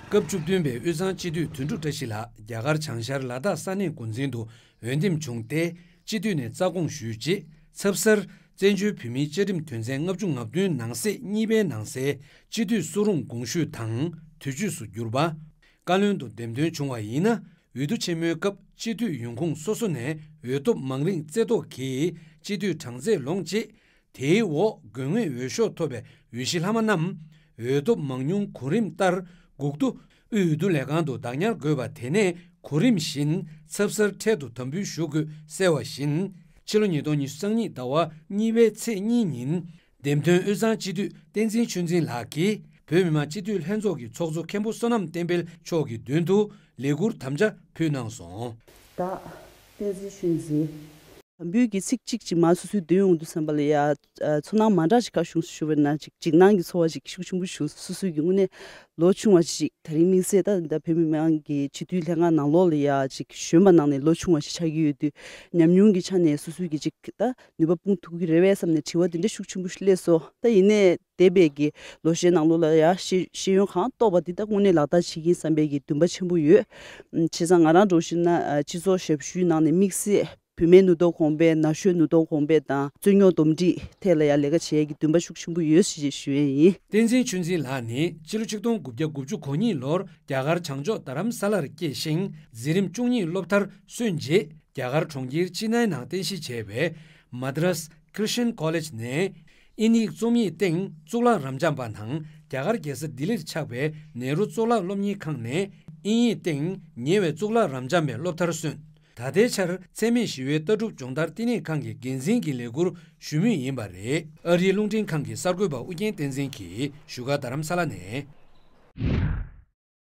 སྐབས་བཅུ་བདུན་པའི་དབུས་གཙང་སྤྱི་འཐུས་དོན་གྲུབ་བཀྲ་ཤིས་ལགས་རྒྱ་གར་བྱང་ཤར་ལ་དྭགས་ས་གནས་འགོ་འཛིན་དུ་འོས་འདེམས་བྱུང་སྟེ་སྤྱི་འཐུས་ནས་རྩ་དགོངས་ཞུས་རྗེས་ཚབ་གསར་བཙན་བྱོལ་བོད་མིའི་བཅའ་ཁྲིམས་དོན་ཚན་ལྔ་བཅུ་ང་བདུན་ནང་གསེས་གཉིས་པའི་ནང་གསལ་སྤྱི་འཐུས་སུ་རུང་དགོངས་ཞུས་དང་དུས་མཆོད་སུ་གྱུར་པ། བཀའ་བློན་དུ་འདེམས་ཐོན་བྱུང་བ་ཡིན་ན་འོས་བསྡུ་ཆེན་མོའི་སྐབས་སྤྱི་འཐུས་ཡོང་ཁུངས་སོ་སོ་ནས་འོས་ཐོབ་མང་རིགས་རྩེ་བཏོག་གིས་སྤྱི་འཐུས་གྲངས་ཚད་ལོངས་རྗེས། དེའི་འོག་དགོས་ངེས་འོས་ཤོག་ཐོབ་པའི་འོས་གཞི་ལྷག་མ་རྣམས། འོས་ཐོབ་མང་ཉུང་གོ་རིམ་ལྟར་སྒུག་རྡོ་དབུས་འོས་བསྡུ་ལས་ཁང་དུ་བདག་ཉར་དགོས་པ་དེ་ནས་གོ་རིམ་བཞིན་ཚབ་གསར་འཕྲལ་དུ་དམ་འབུལ་ཞུ་དགོས་གསལ་བ་བཞིན། ཕྱི་ལོ་ཉིས་སྟོང་ཉི་ཤུ་སང་ཉིད་ཟླ་བ་གཉིས་པའི་ཚེས་གཉིས་ཉིན། འདེམས་ཐོན་དབུས་གཙང་སྤྱི་འཐུས་བསྟན་འཛིན་ཆོས་འཛིན་ལགས་ཀྱིས་བོད་མི་མང་སྤྱི་འཐུས་ལྷན་ཚོགས་ཀྱི་ཚོགས་གཙོ་མཁན་པོ་བསོད་ནམས་བསྟན་འཕེལ་མཆོག་གི་མདུན་དུ་ལས་ཁུར་དམ་བཅའ་ཕུལ་གནང་སོང། ད། བསྟན་འཛིན་ཤུན་རྗེ། འབུད་ཀྱི་ཚིག་གཅིག་གཅིག་མ་སོ་སོའི་མདུན་འོང་དུ་སོན་པ་ལ་ཡང་ཚོར་སྣང་མ་འདྲ་ཞིག་ག་བྱུང་སུ་ཞུ་བས་ན་ཅིག་འཇིགས་སྣང་གི་ཚོར་བ་ཞིག་ཤུགས་ཆེན་པོ་བྱུང་སོ་སོ་ཀྱི་དངོས་གནས་ལོ་ཆུང་བ་ཞིག་ད་རིང་དམིགས་བསལ་ད་ལྟ་བོད་མི་མང་གི་སྤྱི་འཐུས་ལྷན་ཁང་ནང་ལོགས་ལ་ཡང་ཅིག་གཞོན་པ་ནང་ནས་ལོ་ཆུང་བ་ཞིག་ཆགས་ཀྱི་ཡོད་དུས་ཉམས་མྱོང་གི་ཆ་ནས་སོ་སོས་ཀྱིས་ཅིག་ད་ནུས་པ་སྤུངས་ཐུབ་ཀྱི་རེད་བས་བསམ་ནས་དྲི་བ་འདི་འདྲ་ཤུགས་ཆེན་པོ་ཞིག་སླེབས་སོ་ད་ཡིན་ནའི། འདས་པའི་གི་ལོ་ཤས་ནང་ལོ་ལ་ཡ་ཤེས་ཤེས་ཡོན་གང་རྟོགས་པ་འདི་དག་དངོས་གནས་ལག་བསྟར་བྱེད་ཀྱིན་བསམ་པའི་གི་འདུན་པ་ཆེན་པོ་ཡོད། བྱས་ཙང་ང་རང་འགྲོ་བཞིན་ན་སྤྱི་ཚོགས་ཞབས་ཞུའི་ནང་ནས་དམིགས་བསལ་བུད་མེད་ནུ་ཐོག་གོང་སྤེལ་ན་གཞོན་ནུ་ཐོག་གོང་སྤེལ་དང་རྩོད་རྙོག་འདུམ་འགྲིག་ཐད་ལ་ཡང་ལས་ཀ་བྱེད་ཡ་གི་འདུན་པ་ཤུགས་ཆེན་པོ་ཡོད་ཞེས་ཞུ་ཡས་ཡིན། བསྟན་འཛིན་ཆོས་འཛིན་ལགས་ནི་ཕྱི་ལོ་ཆིག་སྟོང་དགུ་བརྒྱ་དགུ་བཅུ་གོ་གཉིས་ལོར་རྒྱ་གར་བྱང་ཕྱོགས་རྡ་རམ་ས་ལར་སྐྱེས་ཤིང་འཛིན་རིམ་བཅུ་གཉིས་སློབ་མཐར་སོན་རྗེས་རྒྱ་གར་གྲོང་ཁྱེར་ཅི་ནཱའི་ནང་རྟེན་གཞི་བྱས་པའི Madras Christian College ནས་ཨིན་ཡིག་རྩོམ་ཡིག་སྟེང་གཙུག་ལག་རབ་འབྱམས་པ་དང་རྒྱ་གར་རྒྱལ་ས་ལྡི་ལིར་ཆགས་པའི་ནེ་རུ་གཙུག་ལག་སློབ་གཉེར་ཁང་ནས་ཨིན་ཡིག་སྟེང་ཉེ་བའི་གཙུག་ལག་རབ་འབྱམས་པའི་སློབ་མཐར་སོན། ད་ལྟའི་ཆར་འཚེ་མེད་ཞི་བའི་ལྟ་གྲུབ་སྦྱོང་བརྡར་བསྟི་གནས་ཁང་གི་འགན་འཛིན་གྱི་ལས་འཁུར་ཞུ་མུས་ཡིན་པ་རེད། ཨ་རིའི་རླུང་འཕྲིན་ཁང་གི་གསར་འགོད་པ་ཨུ་རྒྱན་བསྟན་འཛིན་གྱིས་བཞུགས་སྒར་རྡ་རམ་ས་ལ་ནས།